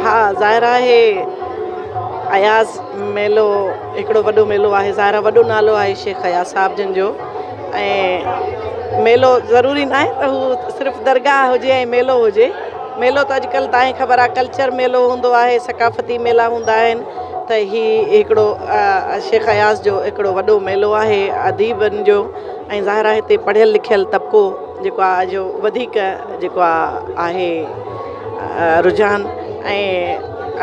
ها ظاهر آهي اياز ميلو هڪڙو وڏو ميلو آهي ظاهر آهي وڏو نالو آهي شيخ اياز صاحب جن جو ۽ ميلو ضروري نه آهي ته هو صرف درگاهه هجي ۽ ميلو هجي ميلو ته اڄڪلهه تائين خبر آهي ڪلچر ميلو هوندو آهي ثقافتي ميلا هوندا آهن ته هي هڪڙو شيخ اياز جو هڪڙو وڏو ميلو آهي اديبن جو ۽ ظاهر آهي هتي پڙهيل لکيل طبقو جيڪو آهي جو وڌيڪ جيڪو آهي رجحان ۽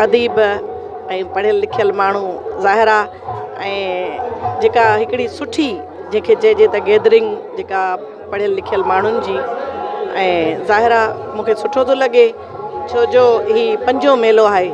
اديب ۽ پڙهيل لکيل ماڻهو ظاهر آ ۽ جيڪا هڪڙي سٺي جيڪي چئجي ته گيدرنگ جيڪا پڙهيل لکيل ماڻهن جي ۽ ظاهر آ مونکي سٺو ٿو لڳي ڇو جو هي پنجون ميلو آهي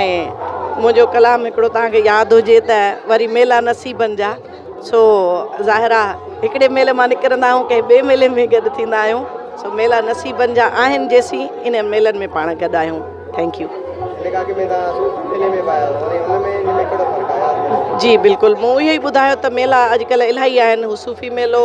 ۽ منهنجو ڪلام هڪڙو توهان کي ياد هجي ته وري ميلا نصيبن جا سو ظاهر آ هڪڙي ميلي مان نڪرندا آهيون ڪنهن ٻئي ميلي ۾ گڏ ٿيندا آهيون سو ميلا نصيبن جا آهن جيسين ان ميلن ۾ پاڻ گڏ آهيون ٿينڪيو جي بلڪل مون اهو ئي ٻڌايو ته ميلا اڄڪلهه الاهي آهن هو صوفي ميلو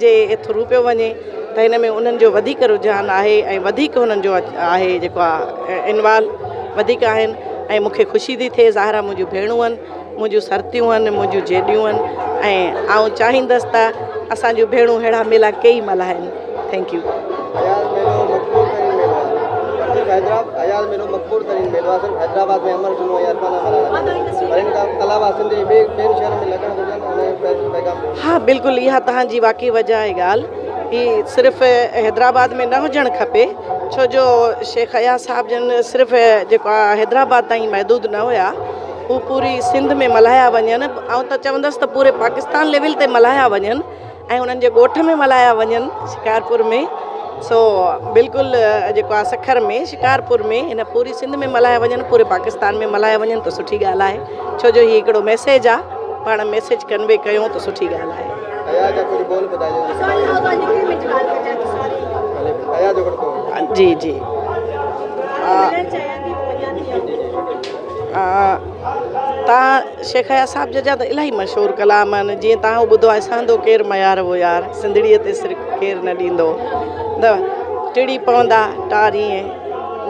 جي ٿرو پيو وڃي ته هن ۾ انهن جو وڌيڪ رجحان آهي ۽ وڌيڪ هنن جو آهي جيڪو آهي انوالو وڌيڪ آهن ۽ مونکي خوشي ٿي ٿئي ظاهر آهي منهنجو ڀيڻون آهن منهنجو سرتيون آهن منهنجو جيڏيون آهن ۽ آئون چاهيندس ته اسانجو ڀيڻون ههڙا ميلا ڪيئي ملهائن ٿينڪ يو اياز ميلو مقبول ترين ميلو آهي صرف حيدرآب اياز ميلو مقبول ترين ميلو آهي صرف حيدرآباد ۾ امر جلوو ۽ ارڪانا ملهائڻ ٿيندو پر ان کان علاوه سنڌ جي ٻين شهرن ۾ لڳڻ گهرجن ها بلڪل اها توهان جي واقعي وجه آهي ڳالهه هي صرف حيدرآباد ۾ نه هجڻ کپي ڇو جو شيخ اياز صاحب جن صرف جيڪو آهي حيدرآباد تائين محدود نه هيا هو پوري سنڌ ۾ ملهايا وڃن آئون ته چوندس ته پوري پاڪستان ليول تي ملهايا وڃن ۽ انهن جي ڳوٺ ۾ ملهايا وڃن شڪارپور ۾ سو بلڪل جيڪو آهي سکر ۾ شڪارپور ۾ هن پوري سنڌ ۾ ملهايا وڃن پوري پاڪستان ۾ ملهايا وڃن ته سٺي ڳالهه آهي ڇو جو هي هڪڙو ميسيج آهي پاڻ ميسيج ڪنوي ڪيون ته سٺي ڳالهه آهي جي جي تان شيخ اياز صاحب جا ته الاهي مشهور ڪلام آهن جيئن تان هو ٻڌو آهي سهندو ڪير ميار هو يار سنڌڙيء تي سر ڪير نه ڏيندو نه ٽڙي پوندا ٽاريين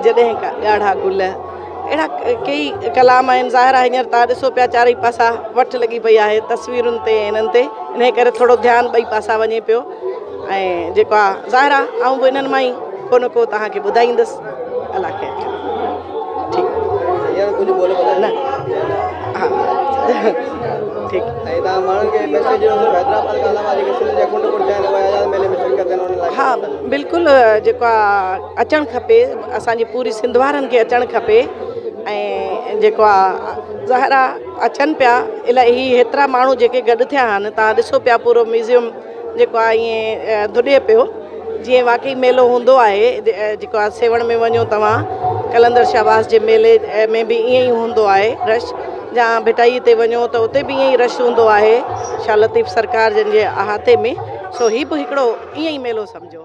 جڏهن ڪا ڳاڙها گل اهڙا ڪيئي ڪلام آهن ظاهر آهي هينئر تان ڏسو پيا چارئي پاسا وٺ لڳي پئي آهي تصويرن تي انهن تي انهي ڪري ٿورو ڌيان ٻئي پاسا وڃي پيو ۽ جيڪو آ ظاهر آ آئون به انهن مان ئي ڪو نه ڪو توهان کي ٻڌائيندس الله خير ها بلڪل جيڪو آ اچڻ کپي اسان جي پوري سنڌ وارن کي اچڻ کپي ۽ جيڪو آ ظاهر آ اچن پيا الاهي هيترا ماڻهو جيڪي گڏ ٿيا آهن تان ڏسو پيا پورو ميوزيم جيڪو آ ائين ڌڏي پيو جيئن واقعي ميلو هوندو آهي جيڪو آ سيوهڻ ۾ وڃو توهان قلندر شهباز جي ميلي ۾ به ائين ئي هوندو آهي رش جا ڀٽائي تي وڃو ته اتي به ائين رش هوندو آهي شاهه لطيف سرڪار جن جي احاطي ۾ سو هي به هڪڙو ائين ئي ميلو سمجهو